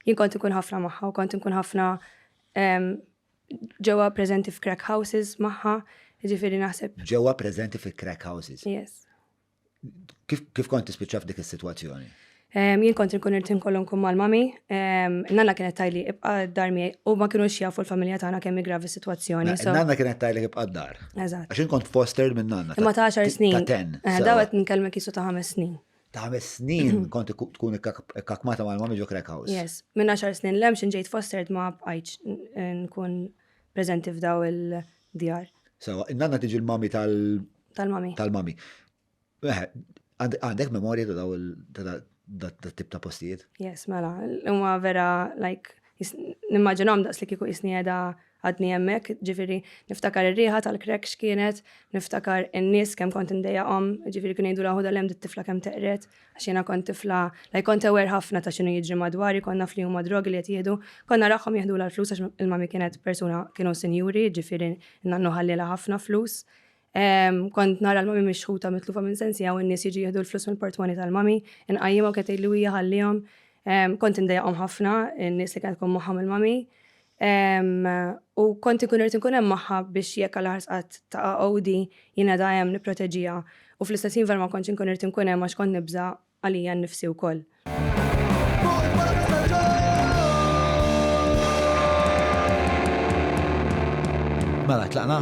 Jien kont inkun ħafna magħha u kont inkun ħafna ġewwa preżenti f'crack houses magħha, jiġifieri naħseb. Ġewwa preżenti fi crack houses? Yes. Kif kont tispiċċa f'dik is-sitwazzjoni? Jien kont inkun irid inkollu nkun mal-mami, nanna kienet tajli ibqa' d-dar miegħi u ma kienux jafu l-familja tagħna kemm gravi s-sitwazzjoni. Nanna kienet tajli ibqa' d-dar. Eżatt. Għax kont fostered minn nanna. Ma ta' 10 snin. Ta' 10. Dawet nkellmek isu ta' 5 snin. ta' ħames snin mm. kont tkun ikkakmata ma' l-mami ġo Crack House. Yes, minn għaxar snin l-hemm xin ġejt fostered ma' bqajċ nkun prezenti f'daw il-djar. Sawa, nanna tiġi l-mami tal- Tal-mami. Tal-mami. Eh, għandek memorja ta' daw ta' tip ta' postijiet? Yes, mela, huma vera, like, nimmaġinhom daqs li kieku jisni għeda Għadni hemmhekk, ġifieri niftakar ir-riħa tal-crack x'kienet, niftakar in-nies kemm kont indejjaqhom, ġifieri kienu jgħidulha ħudha 'l hemm dit-tifla kemm teqred, għax jiena kont tifla like kont aware ħafna ta' x'inhu jiġri madwari, kont naf li huma drogi li qed jieħdu, kont narahom jeħdulha l-flus għax il-mummy kienet persuna kienu sinjuri, ġifieri n-nannu ħallielha ħafna flus. Kont nara l-mami mixħuta mitlufa minn sensija u n-nies jiġu jieħdu l-flus mill-portmoni tal-mami, inqajjimha u kienet li hija ħallihom. Kont indejjaqhom ħafna n-nies li kienet tkun magħhom il-mami. U kont ikun irid inkun hemm magħha biex jekk għal ħarsqat ta' għodi jingħada hemm nipproteġiha u fl-istess ħin vera ma kontx inkun irid inkun hemm għax kont nibża' għalija nnifsi wkoll. Mela tlaqna?